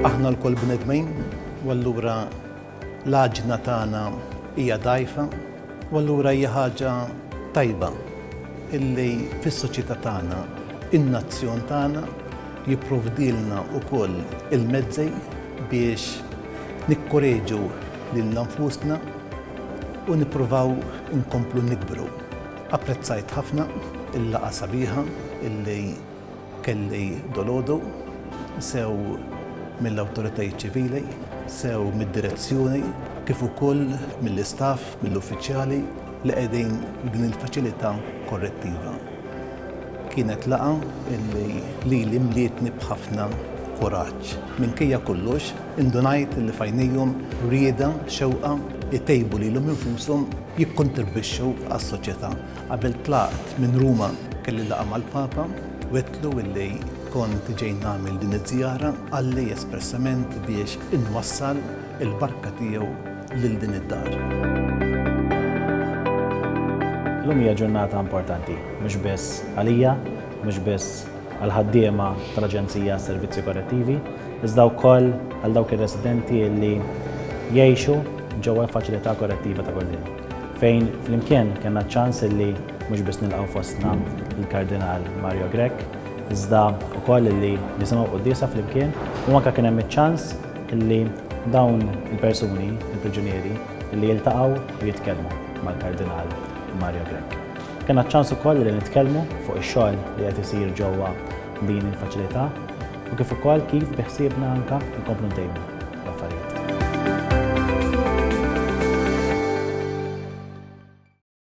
Aħna lkoll bnedmin u allura l-għaġna tagħna hija dgħajfa u allura hija ħaġa tajba illi fis-soċjetà tagħna in-nazzjon tagħna jipprovdilna wkoll il-mezzi biex nikkoreġu lilna nfusna u nippruvaw inkomplu nikbru. Apprezzajt ħafna il-laqgħa sabiħa illi kelli dolodu, sew mill-awtoritajiet ċivili, sew mid-direzzjoni kif ukoll mill-istaff, mill-uffiċjali li qegħdin f'din il-faċilità korrettiva. Kienet laqgħa illi lili mlietni b'ħafna kuraġġ. Minkejja kollox, Indunajt li f'għajnejhom rieda, xewqa, itejbu lilhom infushom, jikkontribwixxu għas-soċjetà. Qabel tlaqt minn Ruma kelli laqgħa mal-Papa, wegħdtlu li kont ġej nagħmel din iż-żjara, qalli espressament biex inwassal il-barka tiegħu lil din id-dar. Illum hija ġurnata importanti, mhux biss għalija, mhux biss. għall-ħaddiema tal-Aġenzija għas-Servizzi Korrettivi, iżda wkoll għal dawk ir-residenti li jgħixu ġewwa l-Faċilità Korrettiva ta' Kordin, fejn flimkien kellna ċ-ċans li mhux biss nilqgħu fostna l-Kardinal Mario Grech, iżda wkoll li nisimgħu l-quddiesa flimkien u anke kien hemm iċ-ċans li dawn il-persuni, il-priġunieri, li jiltaqgħu u jitkellmu mal-Kardinal Mario Grech. Kena ċans ukoll li nitkellmu fuq ix-xogħol li qed isir ġewwa din il-faċilità u kif ukoll kif biħsiebna anka nkomplu ntejbu l-affarijiet.